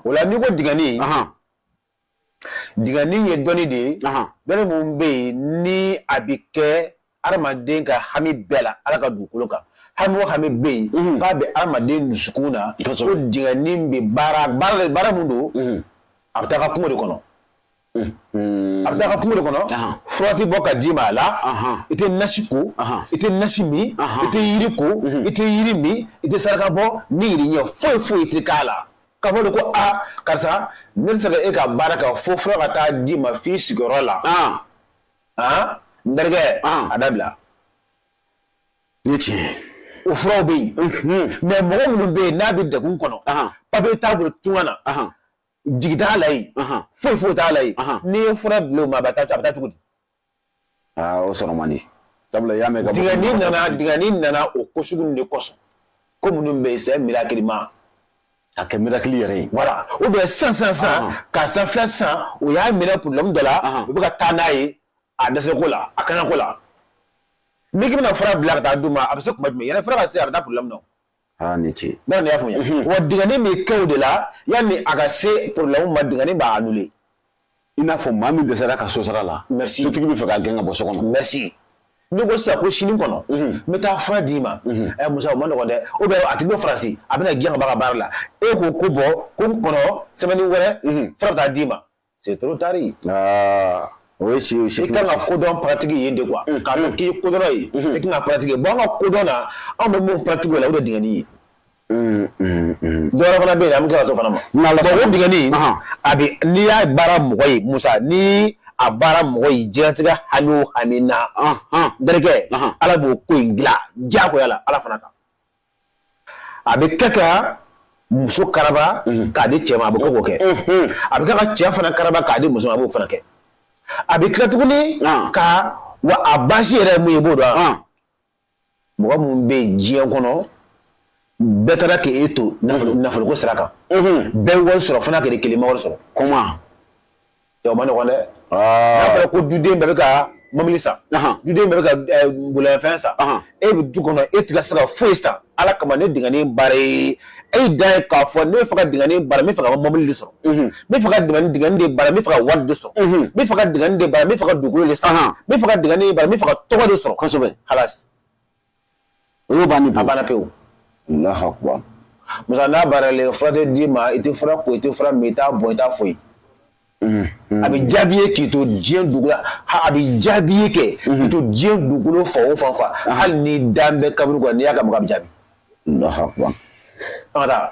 o la n'i ko digɛni digɛni ye dɔnni de ye dɔnni min bɛ yen ni a bɛ kɛ adamaden ka hami bɛɛ la ala ka dugukolo kan hami o hami bɛ yen mhm. k'a bɛ adamaden dusukun na ko digɛni bɛ baara baara baara min don mhm. a bɛ taa ka kungo de kɔnɔ a bɛ taa ka kungo de kɔnɔ fura tɛ bɔ ka d'i ma a la i tɛ nasi ko i tɛ nasi min i tɛ yiri ko i tɛ yiri min i tɛ saraka bɔ ni yiri ɲɛ foyi foyi i tɛ k'a la k'a fɔ de ko a karisa ne tɛ se ka e ka baara kɛ fo fura ka taa d'i ma f'i sigiyɔrɔ la n terikɛ a dabila i ye tiɲɛ ye o furaw bɛ yen mais mɔgɔ minnu bɛ yen n'a bɛ degun kɔnɔ papiye t'a bolo tunga na jigi t'a la yen foyi foyi t'a la yen n'i ye fura bila o ma a bɛ taa a bɛ taa cogo di aa o sɔrɔ man di sabula i y'a mɛn dingɛni nana dingɛni nana o ko sugu de kosɔn ko minnu bɛ yen c'est miracle ma a kɛ miracle yɛrɛ ye voilà ou bien san san san ka san fɛn san u y'a minɛ problème dɔ la u bɛ ka taa n'a ye a dɛsɛko la a kaɲako la n'i k'i bɛna fura bila ka taa d'u ma a bɛ se kuma jumɛn yɛrɛ fura ka se a bɛ taa problème na aa ni ce n'a y'a faamuya mhm. wa dingani bɛ kɛ o de la yanni a ka se problème ma dingani b'a annuler i n'a fɔ maa min dɛsɛra ka so sara la merci sotigi bɛ fɛ k'a gɛn ka bɔ so kɔnɔ merci n'i ko sisan ko sini kɔnɔ mhm. n bɛ taa fura d'i ma mhm. ɛ musa o ma nɔgɔn dɛ ou bien a tigi bɛ faransi a bɛna gɛn ka bɔ a ka baara la e ko ko bon ko n kɔnɔ semaine wɛrɛ fura bɛ taa d'i ma c'est trop tard o ye si i kan ka kodɔn pratiquer yen de quoi k'a dɔn k'i ye kodɔnna ye i kan k'a pratiquer bon an ka kodɔn na anw bɛ mun pratiquer o la o de ye dingani ye dɔ wɛrɛ fana bɛ yen an bɛ tila ka s'o fana ma dingani a bɛ n'i y'a baara mɔgɔ ye musa ni a baara mɔgɔ ye diɲɛlatigɛ hami o hami na n terikɛ ala b'o ko in dilan diyagoya la ala fana kan a bɛ kɛ ka muso karaba k'a di cɛ ma a bɛ kɛ k'o kɛ a bɛ kɛ ka cɛ fana karaba k'a di muso ma a b'o fana kɛ a bɛ tila tuguni ka wa a basi yɛrɛ ye mun ye i b'o dɔn wa mɔgɔ minnu bɛ yen diɲɛ kɔnɔ bɛɛ taara k'e to nafoloko sira kan bɛɛ wari sɔrɔ fana k'e kelen ma wari sɔrɔ ma nɔgɔn dɛ n'a fɔra ko duden bɛɛ bɛ ka mobili san duden bɛɛ bɛ ka bolifɛn san e bɛ du kɔnɔ e tɛ ka se ka foyi san ala kama ne dingani baara ye e da ye k'a fɔ ne bɛ fɛ ka dingani baara n bɛ fɛ ka mɔbili de sɔrɔ n bɛ fɛ ka dingani de baara n bɛ fɛ ka wari de sɔrɔ n bɛ fɛ ka dingani de baara n bɛ fɛ ka dugukolo de san n bɛ fɛ ka dingani de baara n bɛ fɛ ka tɔgɔ de sɔrɔ kosɛbɛ hala O y'o bannen a banna pewu allahu akbar musa n'a baaralen fura tɛ d'i ma i tɛ fura ko i tɛ fura min i t'a bɔ i t'a foyi mm-hmm. a bɛ jaabi ye k'i to diɲɛ dugu la a bɛ jaabi ye kɛ k'i mm-hmm. to diɲɛ dugukolo fan o fan fɛ hali ni dan bɛ kaburu kɔnɔ n'i y'a ka maga a bɛ jaabi allahu akbar an ka taa